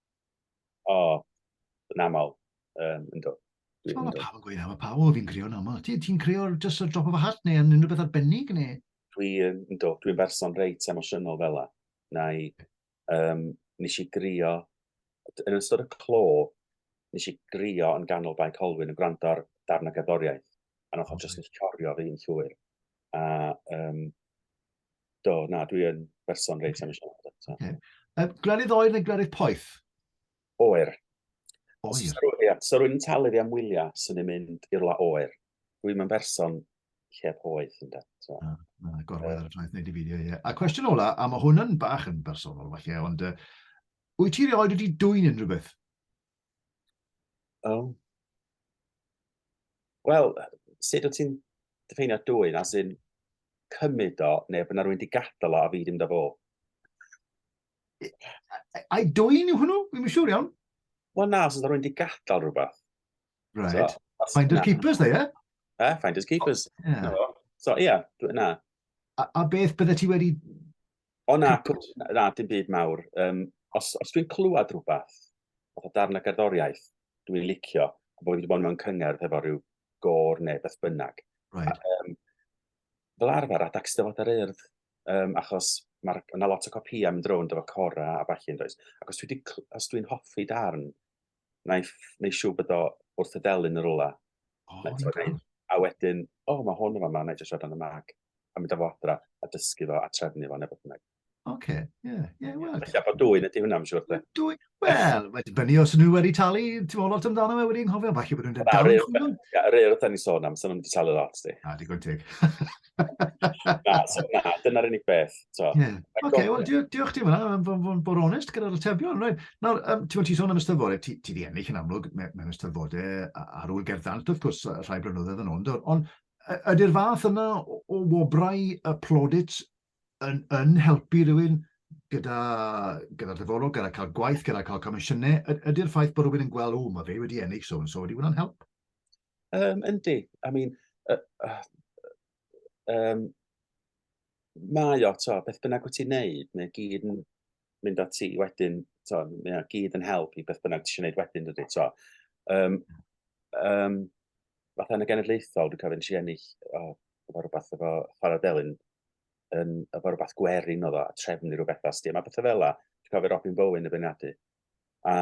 O, yn aml. Um, yn do. Dwi'n Mae pawb yn gweud na, mae pawb o fi'n crio'n aml. Ti'n ti creo just a drop of a hat neu yn unrhyw beth arbennig neu? Dwi'n, yn do, dwi'n berson reit emosiynol fel la. Na i, um, nes i grio, yn ystod y clo, nes i grio yn ganol Bae Colwyn yn gwrando ar darn o gerddoriaeth. A nath o just nes corio fi'n llwyr. A um, Do, na, dwi yn berson reit am eisiau. Okay. Um, glerydd oer neu glerydd poeth? Oer. Oer. Sa rwy'n so rwy'n talu fi am wyliau sy'n ei mynd i'r la oer. Dwi'n mynd berson lle poeth yn dweud. So. Ah, na, gorwedd ar y ffaith wneud i fideo, ie. A cwestiwn ola, a mae hwn yn bach yn bersonol falle, ond uh, wyt ti rioed wedi dwy'n unrhyw beth? Um, Wel, sut wyt ti'n diffeinio dwy na sy'n cymryd o, neu bod yna rwy'n di gadael o a fi ddim da fo? Ai dwy'n yw hwnnw? Fi'n siŵr iawn. Wel na, os yna rwy'n di gadael rhywbeth. Right. So, Finders keepers, dde, ie? Eh, finders keepers. Oh, yeah. So, ie, yeah, na. A, a beth bydde ti wedi O na, pwt, na, dim byd mawr. Um, os, os dwi'n clywed rhywbeth, o darn y gerddoriaeth, dwi'n licio, a bod wedi bod mewn cyngerdd efo rhyw gor neu beth bynnag. Right. A, um, fel arfer, adag styfod ar urdd, um, achos mae yna lot o copïau mynd rownd efo cora a falle yn does. Ac os dwi'n dwi hoffi darn, naiff neu siw bod o wrth y delyn yr ola. Oh, okay. A wedyn, o, oh, mae hwn yn fama, na i jyst siarad yn y mag. A mynd â fo adra, a dysgu fo, a trefnu fo, neu beth bynnag. Oce, ie, ie, wel. Felly, a bod dwy'n ydy hwnna, mae'n siŵr. Dwy, wel, mae dibynnu os nhw wedi talu, ti'n meddwl lot amdano fe wedi'n hofio, falle bod nhw'n dweud dal yn chwilio. Ie, rhaid wrth ni sôn am, sy'n nhw'n wedi talu lot, di. A, digon teg. na, so, na, dyna'r unig beth. So. Yeah. OK, wel, diolch ti fanna, am fod yn bod onest gyda'r atebion. Right. Nawr, um, ti'n ti sôn am ystyfodau, ti, ti di ennill yn amlwg mewn ystyfodau ar ôl gerddant, wrth gwrs, rhai blynyddoedd yn ond, ond ydy'r fath yna o, o wobrau y plodit yn, yn helpu rhywun gyda, gyda dyfodol, gyda cael gwaith, gyda cael comisiynau, ydy'r ffaith bod rhywun yn gweld, o, mae fe wedi ennill so and so, wedi hwnna'n help? Yym yndi, I mean yy yy yym mae o t'o' beth bynnag wyt ti'n neud mae o gyd yn mynd â ti wedyn t'o' mae o gyd yn help i beth bynnag tisio neud wedyn dydi t'o'? Yym yym fatha yn y genedlaethol dwi'n cofio nesh i ennill o efo rwbath efo Chwara Delyn yn efo rwbath gwerin o'dd o a trefnu ryw betha sdi a ma' petha fela dwi'n cofio Robin Bowen yn beirniadu A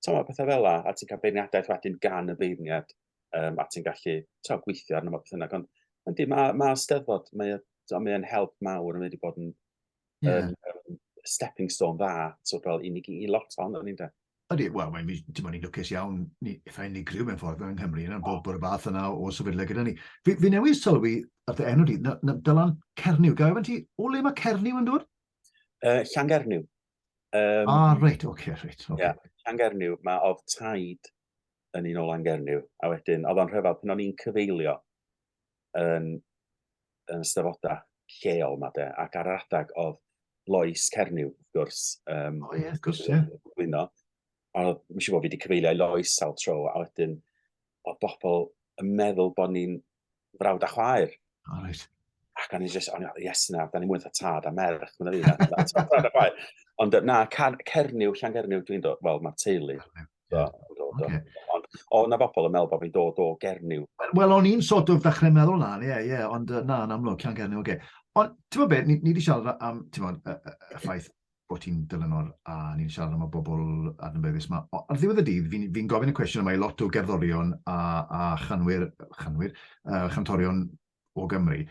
tymod, pethau fel la, a ti'n cael beirniadaeth wedyn gan y beirniad, um, a ti'n gallu tymod, gweithio arno fo beth yna. Ond yndi, mae ma steddfod, mae'n mae help mawr, mae wedi bod yn yeah. um, um, stepping stone dda, so fel i, ni, i lot o'n o'n i'n dweud. Ydy, wel, mae'n dim ond i'n lwcus iawn, ni, eitha unigryw mewn ffordd yng Nghymru, yna bod bod y fath yna o sefydle gyda ni. Fi, fi newid sylwi ar dy enw di, na, na, dylan Cernyw. Gael efo ti, o le mae Cernyw yn dod? Uh, Llangernyw. Um, ah, reit, oce, okay, reit. Okay. Yeah, Llangernyw, mae oedd taid yn un o Langernyw, a wedyn, oedd o'n rhyfedd, pan o'n i'n cyfeilio yn, yn ystafodau lleol ma de, ac ar adeg oedd Lois Cernyw, wrth gwrs. Um, o oh, ie, yeah, gwrs, ie. Yeah. A mi siw bod fi wedi cyfeilio i Lois sawl tro, a wedyn, oedd bobl yn meddwl bod ni'n frawd a chwaer. O, oh, reit. Ac o'n i just, o'n i, yes na, da ni mwy eitha tad a merch, mae'n fi. Ond na, Cernyw, Llan Cernyw, dwi'n dod, wel, mae'r teulu. So, okay. Ond o, na bobl yn meddwl bod fi'n dod o Gernyw. Wel, o'n i'n sort of ddechrau meddwl na, ie, yeah, ie, yeah, ond na, yn amlwg, Llan Gernyw, oce. Okay. Ond, ti'n bod beth, ni, ni wedi siarad am, ti'n bod, y, y, y ffaith, bod ti'n dylanwad a ni'n siarad am y bobl adnabyddus yma. Ar ddiwedd y dydd, fi'n fi gofyn y cwestiwn yma i lot o gerddorion a, a chanwyr, chanwyr uh, chantorion o Gymru.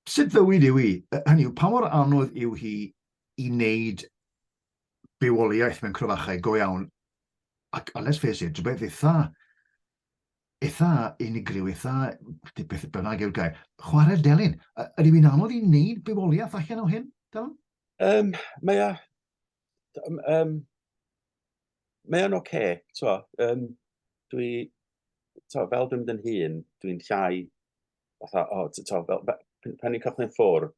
Sut fywyd yw hi? Hynny yw, pa mor anodd yw hi i wneud bywoliaeth mewn cryfachau go iawn? Ac, a les fes i, rhywbeth eitha eitha unigryw, eitha, beth bynnag yw'r gair, chwarae'r delyn. Ydy hi'n anodd i wneud bywoliaeth allan o hyn, Dylan? Um, mae o... Um, mae o'n oce, okay, twa. Um, dwi, twa, fel dwi'n mynd yn hun, dwi'n llai, fatha, o, oh, twa, fel, pan ni'n cychwyn ffwrdd,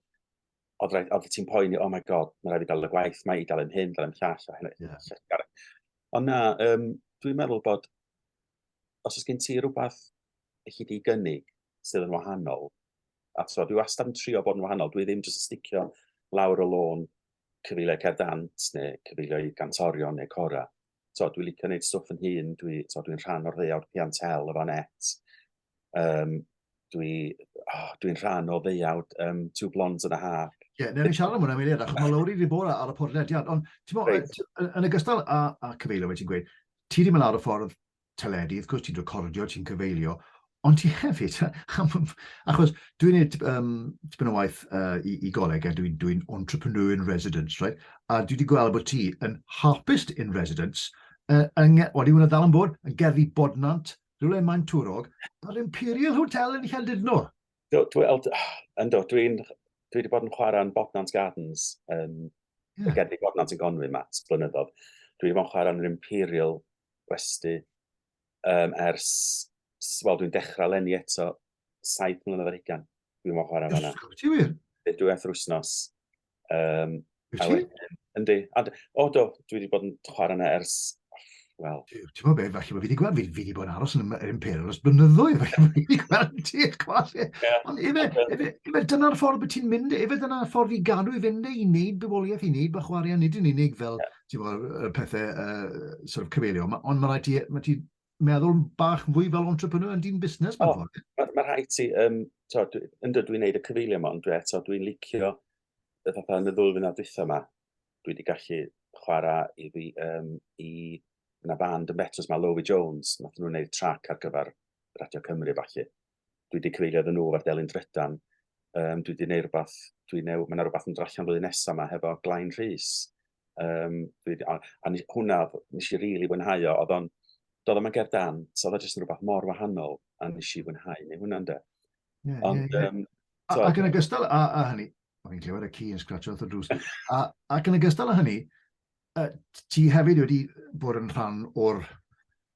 oedd rhaid, oedd ti'n poeni, oh my god, mae rhaid i gael y gwaith, mae i gael yn hyn, gael yn llall, a hynny. Yeah. Ond na, um, dwi'n meddwl bod os oes gen ti rhywbeth i chi di gynnig sydd yn wahanol, a so, dwi wastad yn trio bod yn wahanol, dwi ddim jyst yn sticio lawr y lôn cyfeiliau cerdant neu cyfeiliau gantorion neu cora. So, dwi licio gwneud stwff yn hun, dwi'n so, dwi rhan o'r ddeuawd piantel, y fanets, Um, dwi, oh, dwi'n rhan o ddeuawd um, Two Blondes and a Half. Ie, yeah, neu'n siarad am hwnna, Meiliad, achos mae Lowry wedi bod ar y podlediad, ond ti'n right. yn ogystal â, â cyfeilio, ti'n gweud, ti wedi mynd ar y ffordd teledu, wrth gwrs ti'n recordio, ti'n cyfeilio, ond ti hefyd, achos dwi'n neud um, tipyn o waith uh, i, i goleg, a dwi'n dwi entrepreneur in residence, right? a dwi wedi gweld bod ti yn harpist in residence, uh, yn, wedi hwnna ddal yn bod, yn gerddi bodnant, rhywle mae'n twrog, a'r Imperial Hotel yn Llandudno. Do, dwi, ynddo, dwi'n dwi wedi bod yn chwarae yn Bodnant Gardens, um, yeah. gerddi Bodnant yn Gonwy, Matt, blynyddoedd. Dwi wedi bod yn chwarae yn yr Imperial gwesti um, ers, wel, dwi'n dechrau lenni eto, saith mlynedd ar hugan. Dwi'n mwyn chwarae fanna. Ysgwyd, ti wir? Dwi eithaf wythnos. Um, Wyt ti? Yndi. O do, dwi wedi bod yn chwarae yna ers Wel. Ti'n gwybod beth, falle bod fi wedi gweld, fi, fi wedi bod yn aros yn yr Imperial os blynyddoedd, falle bod fi wedi gweld ti, chwas. Ond efe, efe, efe, dyna'r ffordd bod ti'n mynd, efe dyna'r ffordd i gadw i fynd e, i wneud bywoliaeth, i wneud bych warian, nid yn unig fel, yeah. ti'n gwybod, y pethau uh, sort of cyfeilio, ond mae rhaid ti, mae ti meddwl bach fwy fel entrepreneur yn dyn busnes mewn ffordd. Mae ma rhaid ti, um, to, dwi, yn dydw i'n neud y cyfeilio yma, ond dwi eto, dwi'n licio y fatha yn y ddwy fyna dwytha yma, dwi wedi gallu chwarae i fi, um, i yna band yn Betws, mae Lowy Jones, nath nhw'n neud trac ar gyfer Radio Cymru falle. dwi wedi cyfeirio iddyn nhw efo'r delyn drydan, um, dwi wedi gwneud rhywbeth, dwi new, mae yna rhywbeth yn drallan flwyddyn nesaf yma hefo Glain Rhys. Um, dwi wedi, a, a hwnna, nes i rili really fwynhau o, oedd o'n, doedd yma ger dan, so oedd jyst yn rhywbeth mor wahanol, a nes i fwynhau, neu hwnna'n de. Yeah, Ond, yeah, yeah. Um, so, ac yn ogystal â, â hynny, o'n i'n clywed y ci yn scratch o'r drws, a, ac yn ogystal â hynny, uh, ti hefyd wedi bod yn rhan o'r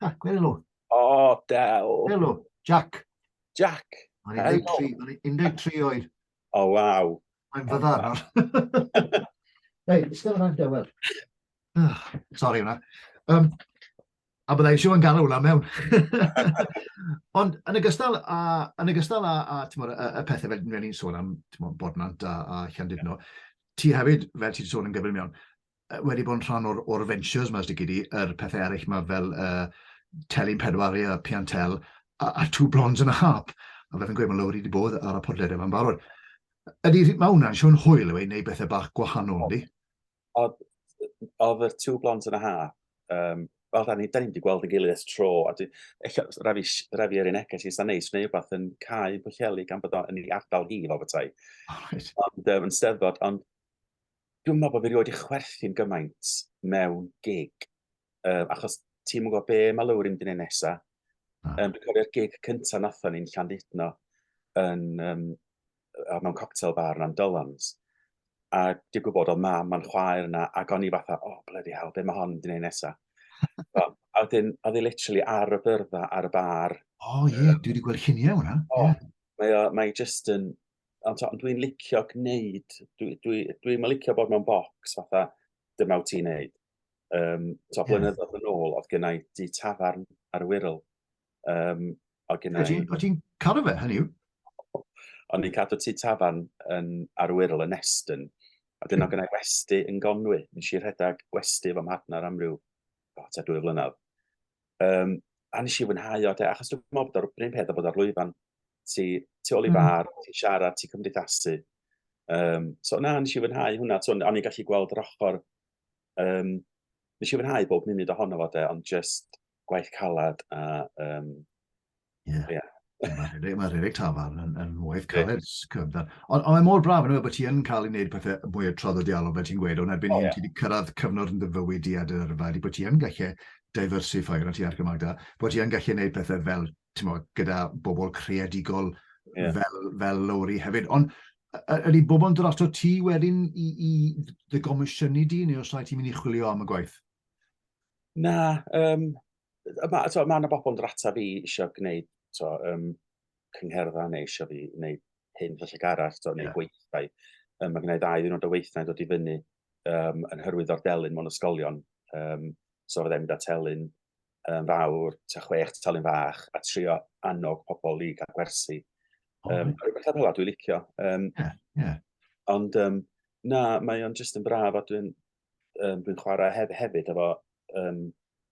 Ah, gwelw. O, oh, del. Gwelw, Jack. Jack. Mae'n 13, mae'n 13 oed. O, oh, waw. Mae'n fyddar. Hei, ystod yma, dewel. Ah, sorry hwnna. Um, a byddai eisiau yn galw hwnna mewn. Ond yn y gystal a, yn y gystal a, a tymor, y, y pethau fel ni'n sôn am tymor, Bodnant a, a Llandudno, ti hefyd, fel ti'n sôn yn gyflym iawn, wedi bod yn rhan o'r, or ventures yma, os di gyd yr pethau eraill yma fel uh, Telyn Pedwar a Piantel a, a Two Blondes and a Harp. A fe fi'n gweud, mae Lowry wedi bod ar y podled yma'n barod. Ydy, mae hwnna'n siwn hwyl yw ei wneud bethau bach gwahanol, ydy? Oedd y Two Blondes and a Harp, um, fel da ni, da ni wedi gweld yn gilydd ys tro, a dwi, eich, rafi, rafi ar un egell i sy'n neis, neu rhywbeth yn cael yn pwllelu gan bod o'n ei ardal hi fel bethau. Oh, right. Ond um, yn steddfod, ond Dwi'n meddwl bod fi rioed i chwerthin gymaint mewn gig, um, achos ti'n mwyn gwybod be mae Lowry yn dyn nesa. Ah. Um, dwi'n cofio'r gig cyntaf nathon ni'n Llandudno yn, um, mewn cocktail bar yn Amdolans. A di gwybod o mam a'n chwaer yna, ac o'n i fatha, oh, bloody hell, be mae hon yn ei nesa? a wedyn, oedd hi literally ar y byrfa, ar y bar. O, oh, ie, yeah, um, dwi wedi gweld lluniau hwnna. Oh, yeah. Mae, mae just yn, ond t'o' ond dwi'n licio gneud dwi dwi dwi'm yn licio bod mewn bocs fatha dyma wt ti'n neud. Yym t'o' Ie. blynyddoedd yn ôl o'dd gennai dŷ tafarn ar y Wirral. Yym o'dd gennai... O' ti'n o' ti'n cadw fe hynny yw? O'n i'n cadw tŷ tafarn yn ar y Wirral yn Neston a 'dyn o' gennai westy yn Gonwy. Nesh i rhedag westy efo mhartnar am ryw o tua dwy flynadd. Um, a nes i fwynhau o, de, achos dwi'n meddwl bod o'r bryn peth o bod ar lwyfan. Ti, ti ôl i mm. far, ti siarad, ti cymdeithasu. Um, so na, nes i fwynhau hwnna, so, o'n i'n gallu gweld yr ochr. Um, nes i fwynhau bob munud ohono fo, de, ond just gwaith calad a um, Ie. Ie. Mae rhedeg, mae rhedeg tafarn yn, yn waith caled. Ond on mae mor braf yn y bod ti yn cael ei wneud pethau mwy o traddodiadol, fel ti'n gweud, ond erbyn oh, hyn yeah. ti wedi cyrraedd cyfnod yn dyfywyd i ad yr yrfa, di bod ti yn gallu diversify yna ti ar gymag da, bod ti yn gallu gwneud pethau fel, ti'n modd, gyda bobl creadigol yeah. fel, fel Lowry hefyd. Ond ydy bobl yn dod ato ti wedyn i, i dy gomisiynu di, neu os rhaid ti'n mynd i chwilio am y gwaith? Na, um, Mae so, ma yna bobl yn dod ata fi eisiau gwneud so, um, cyngherddau neu eisiau fi wneud hyn felly arall, so, neu yeah. gweithdai. Um, mae gennau ddau ddyn o weithdai dod i fyny um, yn hyrwyd o'r delyn mewn ysgolion. Um, so fydda i'n mynd at elyn um, fawr, ta chwech telyn fach, a trio annog pobl i gael gwersi. Um, oh, rhywbeth ar hynny dwi'n licio. Um, yeah, yeah. Ond um, na, mae o'n just yn braf a dwi'n um, dwi'n chwarae hef, hefyd efo um,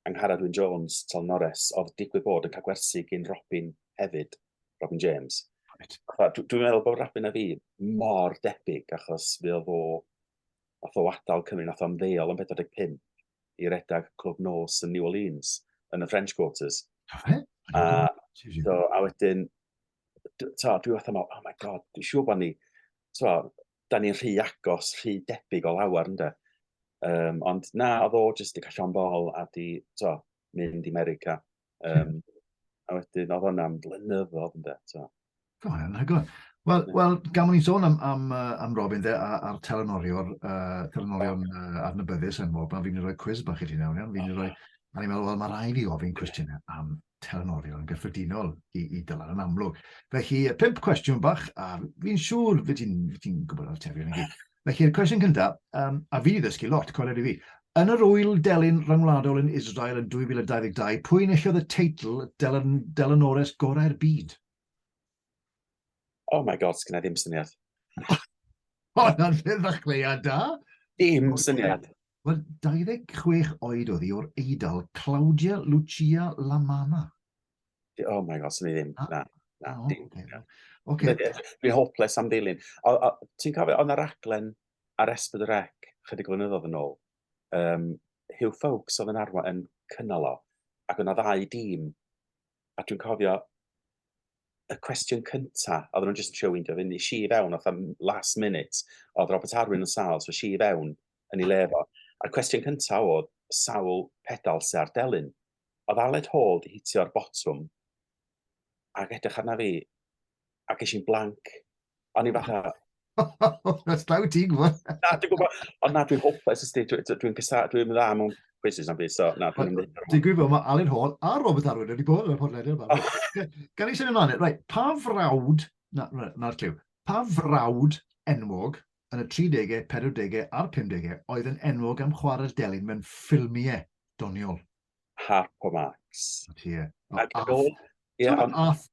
Angharad Wyn Jones, Tom Norris, oedd digwydd bod yn cael gwersi gyn Robin hefyd, Robin James. Right. Dwi'n dwi meddwl bod Robin a fi mor debyg, achos fi oedd o, oedd o adael Cymru, nath o'n ddeol yn 45 i redag Clwb Nos yn New Orleans, yn y French Quarters. Okay. A, so, a wedyn, ta, dwi fath am, oh my god, dwi'n siŵr bod ni, ta, da ni'n rhy agos, rhy debyg o lawer, ynddo. Um, ond na, oedd o jyst i callon bol a di, to, mynd i America. Um, a wedyn, oedd hwnna'n blynyddoedd, ynddo, to. Go iawn, hygol. Wel, yeah. well, gan mwyn sôn am, am, am Robin de, a'r telenorio, uh, telenorio uh, adnabyddus yn mob, fi'n rhoi cwiz bach i ti nawr, iawn? Fi'n rhoi, a ni'n meddwl, wel, mae rai fi ofyn cwestiynau am telenorion yn gyffredinol i, i dylan yn amlwg. Felly, pimp cwestiwn bach, a fi'n siŵr fy ti'n ti gwybod o'r atebion i gyd. Felly'r cwestiwn cyntaf, um, a fi ddysgu lot, cwrdd i fi. Yn yr wyl delyn rhyngwladol yn Israel yn 2022, pwy enillodd y teitl delyn, delynores gorau'r byd? Oh my god, sgynna ddim syniad. Hon yn lle ddechreuad da. Dim syniad. Wel, 26 oed oedd hi o'r Eidal, Claudia Lucia Lamana. Oh my god, syniad ddim. Na, na, oh, dim. Okay. Okay. Dwi'n hopeless am ddilyn. Ti'n cofio, oedd yna raglen ar Esbyd y Rec, chydig o flynyddoedd yn ôl, um, Hugh Fawkes oedd yn arwain yn cynnal o, ac yna ddau dîm a dwi'n cofio y cwestiwn cynta, oedden nhw'n jyst yn trio weindio fy ni, si i fewn, oedd am last minute, oedd Robert Arwyn yn sal, so si i fewn yn ei lefo. A'r cwestiwn cynta oedd sawl pedal sy'n ar delyn. Oedd Aled Hall di hitio'r botwm, ac edrych arna fi, a ges i'n blank. O'n i fatha... That's glaw ti, gwybod. Na, dwi'n gwybod, ond na, dwi'n hopeless ysdi, dwi'n gysa, dwi'n dda mewn quizzes am byd, so na, dwi'n mynd. Dwi'n gwybod, mae Alan Hall a Robert Arwyn wedi bod yn y podlediad yma. Gan i symud ymlaen, e? right, pa frawd, na'r na, clyw, pa frawd enwog yn y 30au, 40au a'r 50au oedd yn enwog am chwarae'r delyn mewn ffilmiau doniol? Harp o Marx. Ie.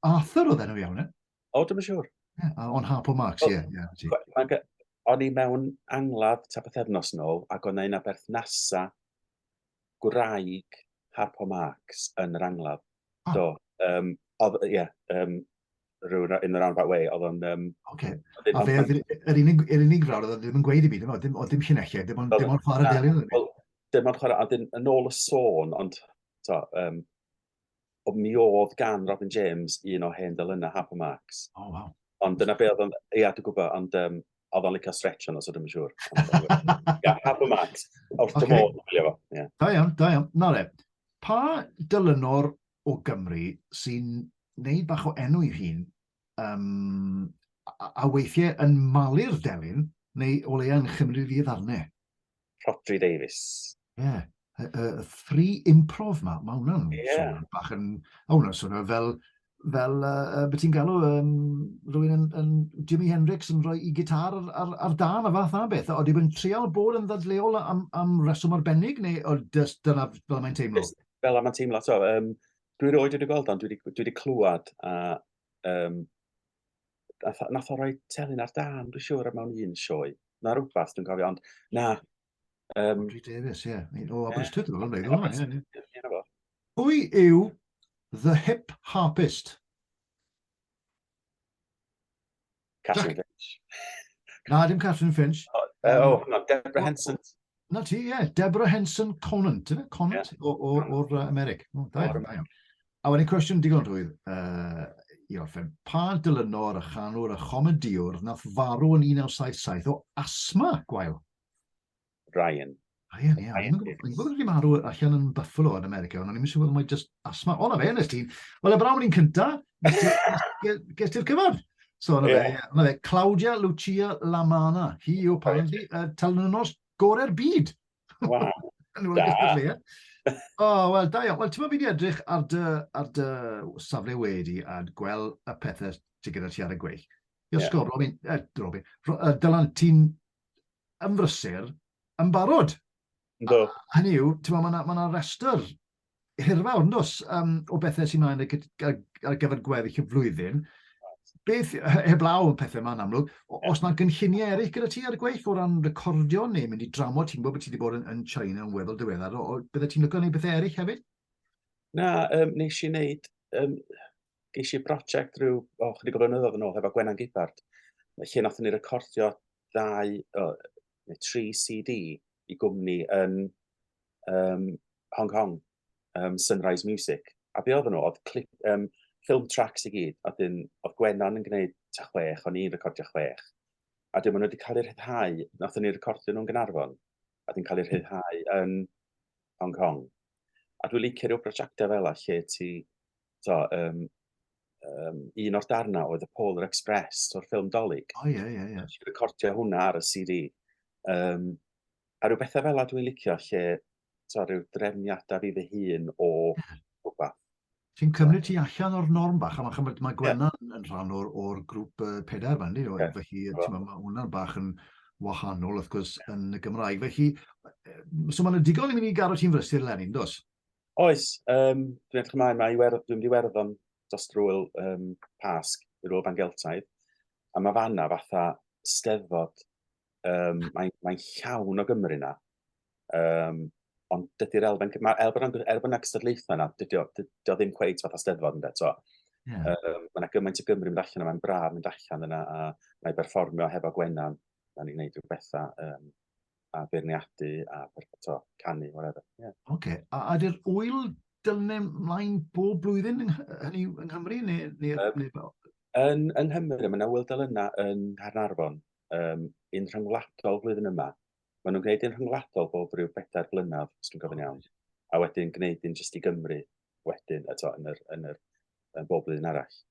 Arthur oedd enw iawn, e? O, dim yn siŵr. O'n Harp o Marx, ie. O'n i mewn angladd ta bythefnos yn ôl, ac o'n ein aberthnasa gwraig Harp o Marx yn yr angladd. Do. Um, oedd, ie, um, rhywun in the roundabout way, oedd o'n... Um, okay. A fe, yr unig, yr unig rawr oedd ddim yn gweud i mi, dim, dim, dim llinellau, dim ond, dim ond chwarae delio. Wel, dim ond chwarae, a dyn, yn ôl y sôn, ond, to, um, o mi oedd gan Robin James un o hen dylunau Happy Marks. Oh, wow. Ond dyna be oedd o'n, ia, dwi'n gwybod, ond um, oedd o'n licio stretch o'n os ydym yn siŵr. Ia, Happy Marks, wrth okay. dy modd, dwi'n gwybod. Da iawn, da iawn. Na le, pa dylunwr o Gymru sy'n neud bach o enw i hun, um, a, a weithiau yn malu'r delyn, neu o leia yn chymryd fi ddarnau. Rhodri Davies. Ie. Yeah. Y, y, y thri improv ma, mae hwnna'n yeah. swnio'n bach yn... O, hwnna'n swnio fel fel uh, beth ti'n galw, um, rwy'n yn, yn Jimi Hendrix yn rhoi i gitar ar, ar, ar dan a fath a beth. Oeddi yn trial bod yn ddadleol am, am reswm arbennig, neu o just dyna fel mae'n teimlo? Just, fel yma'n teimlo, so, um, dwi roed wedi gweld ond dwi wedi, dwi wedi clywed a um, nath o roi telyn ar dan, dwi'n siŵr, am mewn un sioe. Na rhywbeth, dwi'n cofio, ond na. Um, Audrey Davis, ie. Yeah. O, Aberystwyth, dwi'n meddwl. Pwy yw The Hip Harpist? Catherine Finch. Na, dim Catherine Finch. O, uh, oh, no, Deborah Henson. Na ti, ie. Yeah. Deborah Henson Conant, yna? Conant yeah. o'r o, o, Americ. O, da iawn, da iawn. A wedyn cwestiwn digon rhwydd uh, i orffen. Pa dylynwr a chanwr a chomediwr nath farw yn 1977 o asma, gwael? Ryan. Ryan, ie. Ryan Davies. Dwi'n gwybod wedi marw allan yn Buffalo yn America, ond o'n i'n siŵr bod mae'n just asma. O, na fe, nes ti'n... Wel, y brawd ni'n cynta, ges ti'r cyfod. So, na yeah. fe, na fe, Claudia Lucia Lamana. Hi yw apparently y uh, talnynos gorau'r byd. Wow. da. O, oh, wel, da iawn. Wel, ti'n meddwl, fi wedi edrych ar dy, ar dy safle wedi a gweld y pethau ti gyda ti ar y gweill. I'r yeah. sgwr, Robin, eh, Robin, Dylan, ti'n yn brysur yn barod. Do. Hynny yw, ti'n meddwl, mae yna ma restr hirfawr, yn dos, um, o bethau sy'n mynd ar gyfer gweddill y flwyddyn. Beth, heblaw yn pethau yma'n amlwg, os yna gynlluniau eraill gyda ti ar y gweill o ran recordio neu mynd i dramod, ti'n gwybod bod ti wedi bod yn, yn China yn weddol diweddar, o, o, bydde ti'n lygo neu bethau eraill hefyd? Na, um, nes i wneud, um, Ges i brosiect rhyw o chydig o flynyddoedd yn ôl hefo Gwenan Gibbard, lle nath ni recordio dau, o, neu tri CD i gwmni yn um, Hong Kong, um, Sunrise Music. A be oedd nhw? Oedd clip, um, film tracks i gyd, a dyn, oedd Gwenan yn gwneud ta chwech, o'n i'n recordio chwech. A dyn, maen nhw wedi cael eu rhyddhau, nath ni recordio nhw'n Gynarfon, a dyn cael eu rhyddhau yn Hong Kong. A dwi'n licio rhyw brosiectau fel lle ti to, um, um, un o'r darnau oedd y Polar Express o'r ffilm Dolig. O, oh, ie, yeah, ie, yeah, ie. Yeah. Dwi'n recordio hwnna ar y CD. Um, a rhyw bethau fel yna dwi'n licio lle to, rhyw drefniadau fi fy hun o rhywbeth. Ti'n cymryd ti allan o'r norm bach, a mae, mae Gwenna yeah. yn rhan o'r, or grŵp uh, pedair fan, ni, yeah. felly yeah. mae hwnna'n bach yn wahanol, wrth gwrs, yn y Gymraeg. Felly, so mae'n ddigon i mynd i garo ti'n frysur Lenin, dos? Oes, um, dwi'n edrych ymlaen, mae Iwerdd, dwi'n mynd i Werddon dros drwyl um, Pasg, i'r Ôl Bangeltaidd, a mae fanna fatha steddfod, um, mae'n mae llawn o Gymru na, um, ond dydy'r elfen, mae elfen, er bod yna cystadlaethau yna, dydy o, ddim cweith fatha steddfod ynddo, to. Yeah. Um, mae yna gymaint o Gymru mynd allan yma, mae'n braf mynd allan yna, a mae berfformio hefo Gwenan, da ni'n gwneud rhywbeth bethau, um, a beirniadu a to, canu, whatever. Yeah. Oce, okay. a ydy'r wyl dylne mlaen bob blwyddyn hynny yng Nghymru neu, neu, um, neu fel? Yn, yng Nghymru, mae yna wyl dylynna yn Harnarfon, um, yn rhyngwladol flwyddyn yma. Maen nhw'n gwneud yn rhyngwladol bob rhyw bedair blynedd, os dwi'n gofyn iawn. A wedyn gwneud yn jyst i Gymru, wedyn, a to, yn yr, yn yr yn bob blwyddyn arall.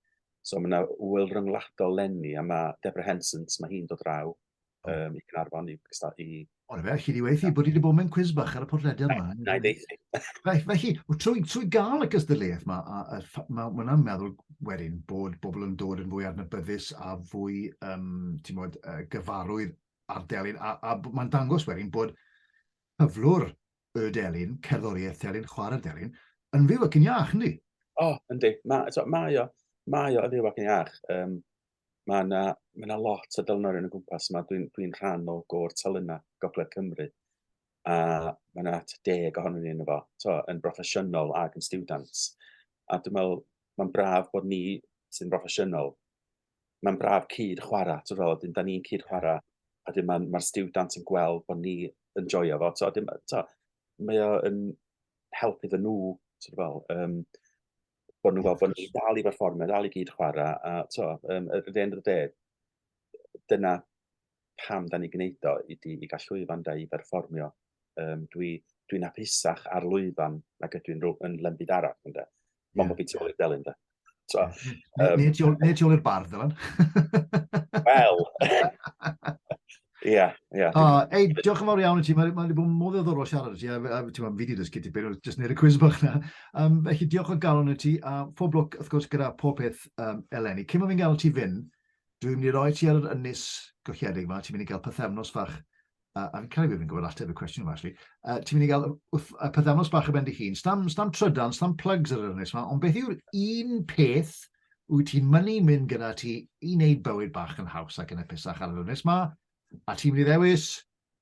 So mae yna wyl ryngwladol lenni, a mae Deborah Hensons, mae hi'n dod draw um, i Cynarfon i gystad i... Ond fe, chi wedi weithi bod i wedi bod mewn cwiz bach ar y podlediad yma. Na, i ddeithi. Felly, trwy, trwy gael y cystadleuaeth yma, a, a, a, mae hwnna meddwl wedyn bod bobl yn dod yn fwy adnabyddus a fwy um, mod, uh, gyfarwydd ar delyn, a, a mae'n dangos wedyn bod cyflwr y delyn, cerddoriaeth delyn, chwarae'r delyn, yn fyw ac yn iach, yndi? O, oh, yndi. Mae so, ma o, mae o yn fyw ac yn iach. Um, mae yna ma na lot o delynorion yn gwmpas yma. Dwi'n dwi, rhan o gôr telynau Gogledd Cymru. A mae yna at deg ohonyn ni yn efo, so, yn broffesiynol ac yn students. A dwi'n meddwl, mae'n braf bod ni sy'n broffesiynol mae'n braf cyd chwarae, ti'n fel, ydyn, da ni'n cyd chwarae, a dim mae'r ma stiwdant yn gweld bod ni yn joio fo, so, dim, so, mae o'n help iddyn nhw, ti'n fel, um, bod nhw'n gweld bod ni dal i berfformio, dal i gyd chwarae, a to, um, at the end of the day, dyna pam da ni'n gwneud o ydy i gael llwyfan da i berfformio. Um, dwi, dwi'n apusach ar lwyfan nag ydw i'n yn lembyd arall. Ynde? Mae'n yeah. bobl i'r delyn da. So, um, neu ti i'r bardd, Dylan. Wel, Ia, ia. Ei, diolch yn fawr iawn i ti. Mae wedi bod mor ddoddorol siarad i ti, a fi wedi dysgu ti beth, jyst neud y cwiz bach na. Um, felly, diolch o galon i ti, a phob lwc, wrth gwrs, gyda pob peth um, eleni. Cyn bod fi'n gael ti fyn, Dwi'n mynd i roi ti ar yr ynys golledig yma, ti'n mynd i gael pythefnos fach, a, a fi'n cael ei fi'n gwybod ateb y cwestiwn yma, actually. Uh, ti'n mynd i gael pythefnos bach y bendi hun, stam, stam trydan, stam plugs ar yr ynys yma, ond beth yw'r un peth wyt ti'n mynnu mynd gyda ti i wneud bywyd bach yn haws ac yn epusach ar yr ynys yma, a ti'n mynd i ddewis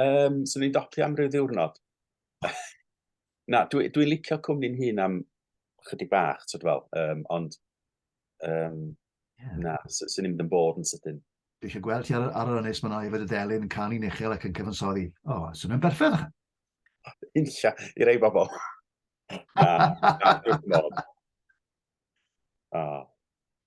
Um, so ni'n docio am ryw ddiwrnod. Na, dwi'n dwi licio cwmni'n hun am chydig bach, ti'n fel, um, ond um, yeah. na, sy'n ni'n mynd yn bod yn sydyn. Dwi eisiau gweld ti ar, ar yr ynnes mae'n o'i fod y delyn yn canu uchel ac yn cyfansoddi. O, oh, sy'n mynd berffedd ychan. Insia, i rei bobl. na, na, dwi'n bod. Oh.